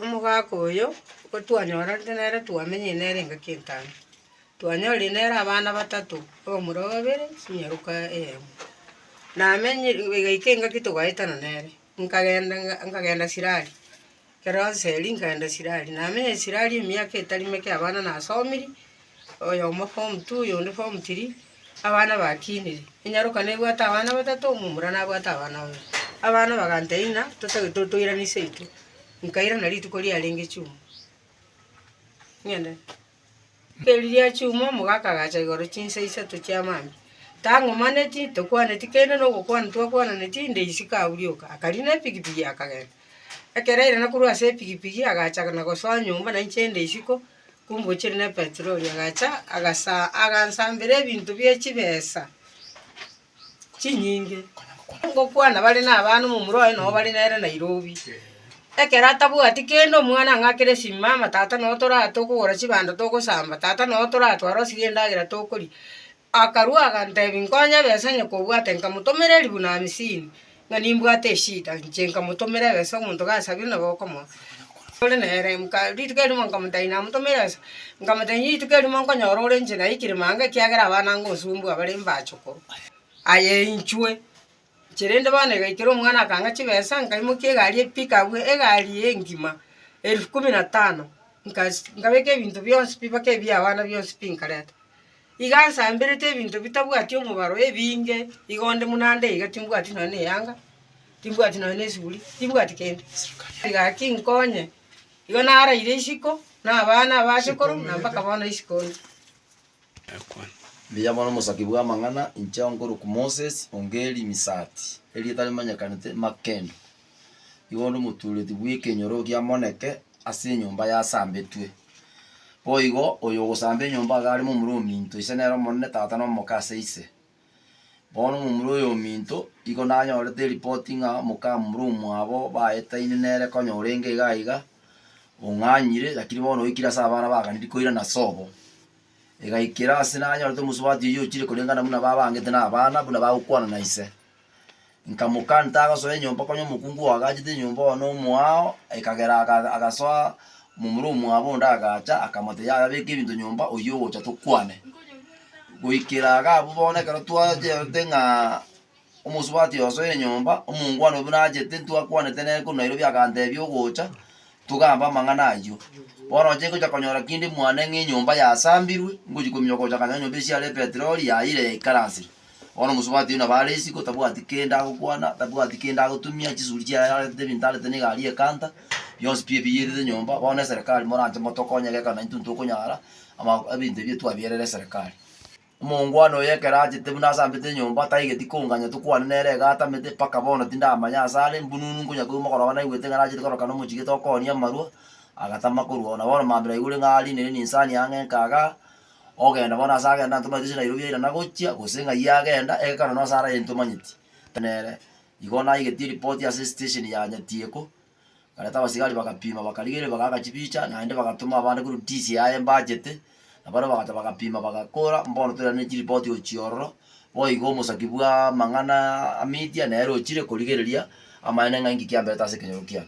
Omogaka oyo gotwanyorarete nere twamenyire nere engaki entano, twanyorire nere abana batato, abamura babere, enyaruka eyemo. Namenyire igaika engaki togaetana nere, nkagenda nkagenda sirari, ekero nseeri nkagenda sirari. Namenyire sirari emiaka etari meke abana nasomiri, oyomo form two, oyonde form three, abana bakinire, enyaroka nebwate abana batato, omomura nabwate abana babere. Abana bagantebia ng'a totagete totoirane seito, nkairana rituko riarenge chuma, ng'ende. Rituko erio ria chuma omogaka agacha igoro chinsa isato chia mambia, tang'omaneti, tokwaneti kende na ogokwana twakwananeti, inde isiko agwo rioka, akarina epikipiki akagenda. Ekero airana korwa ase epikipiki agacha na gosoa nyomba nainche inde isiko, Kombochire ne petroli agacha agasa agansambera ebinto bie chibesa chinyinge, ngokwana bare na abana omomura oye nabo bare nere Nairobi. Ekero atabwati kende omwana ang'akere simu mama tata noo toraa tokogora chibando togosamba, tata noo toratware osirie endagera tokoria. Akarua agantebi, Nkonye ebesa onye kobwate nkamotomera eribu na amisini, ng'a nimbwate eshida inche nkamotomera ebesa omonto gasabire nabo okomoa ore nere. Nka rituko erimo nkamotebia namotomere ebesa, nkamotebia rituko erimo nkonyora ore inche naikire mambia ekiagera abana ngosumbua bare mbache korwa aye inchwe. Erinde bono igaikera omwana akang'a chibesa, nkaimokia egari epiki agwo egari engima elfu kumi na tano, nkabeka ebinto bionsi pi mpaka ebi'abana bionsi pi nkareta. Iga nsamberete ebinto bitabwati omobaro ebinge, iga onde buna ande iga timbwati nonye na eyanga, timbwati nonye na esuguri, timbwati kende. Egaki nkonye, igo naraire isiko na abana abasekoro na mpaka bono isiko onde. ekwana. Mbuya mono omosabi bw'amang'ana, inche onkorokwa Moses, onge Limisati, erieta rimanyekanete Makendo, igo onde omotuureti bw'ekenyoro gia Moneke ase enyomba yasambetwe. Boigo, oyogosamba enyomba iga arimo omura ominto, ise nere omonene, tata na omoke ase ise. Bono momura oyo ominto, igo nanyorete eripoti ng'a mokamura omwabo baetaine nere konya orenge iga iga, ong'anyire, lakini bono oikire ase abana baganiri koirana ase obo. Egaikera ase nanyorete omosubati oyio ochire koreng'ana buna babangete na abana buna bagokwana na ise. Nkamoka ntagosoa enyomba konya omokungu oagachete enyomba oo nomoao, ekagera agasoa momura omwabo onde agacha akamotebi yaya beka ebinto nyomba oyio ogocha tokwane. Goikera iga abwo bono ekero twachiete ng'a omosubati osoire enyomba, omongwana buna achete ntwakwanete nere korwa Nairobi agantebi ogocha togambe amang'ana ayio. Bono oche gocha konyora kinde mwane ng'a enyomba yasambirwe, ngochi kominyoka gocha kanyora enyomba esiare epetroli yaira yaikaransire. Bono omosubati oyio nabo are isiko, tabwati kende agokwana, tabwati kende agotumia, chisuri chiaye ararete, ebinto ararete na egari y'ekanta, bionsi pi ebiyerire nyomba. Bono eserekari moranche motokonye gekero naintwe ntokonyara ama ebinto ebio twabierera eserekari. Omoongwana oyo ekero achete buna asambete enyomba, taigeti konganya tokwane nere iga atamete, mpaka bono tindamanya ase are, mbununu nkonya koigwa mogoroba naigwete ng'a nachete koroka nomochie tokoonia amarwa, agatama korwa oo. Nabo bono mambia naigure ng'a arinire ninsani ang'e nkagaa. Ogenda bono ase agenda ntomanyeti gose Nairobi yaira nagochia gose ng'ai agenda egekaro nonye ase araye ntomanyeti nere. Igo naigetie ripoti ase esitesheni ya Nyatieko, nkareta abasigari bagapima bakarigereria bagaaka chibicha naende bagatoma abande korwa DCI aye mbachete, na barabwo bagacha bagapima bagakora mbono toirane chiripoti gochia ororo, boigo omosaki bwa amang'anaa media nere ochire korigereria amaene ng'a inki kiamberete ase ekenyoro kiane.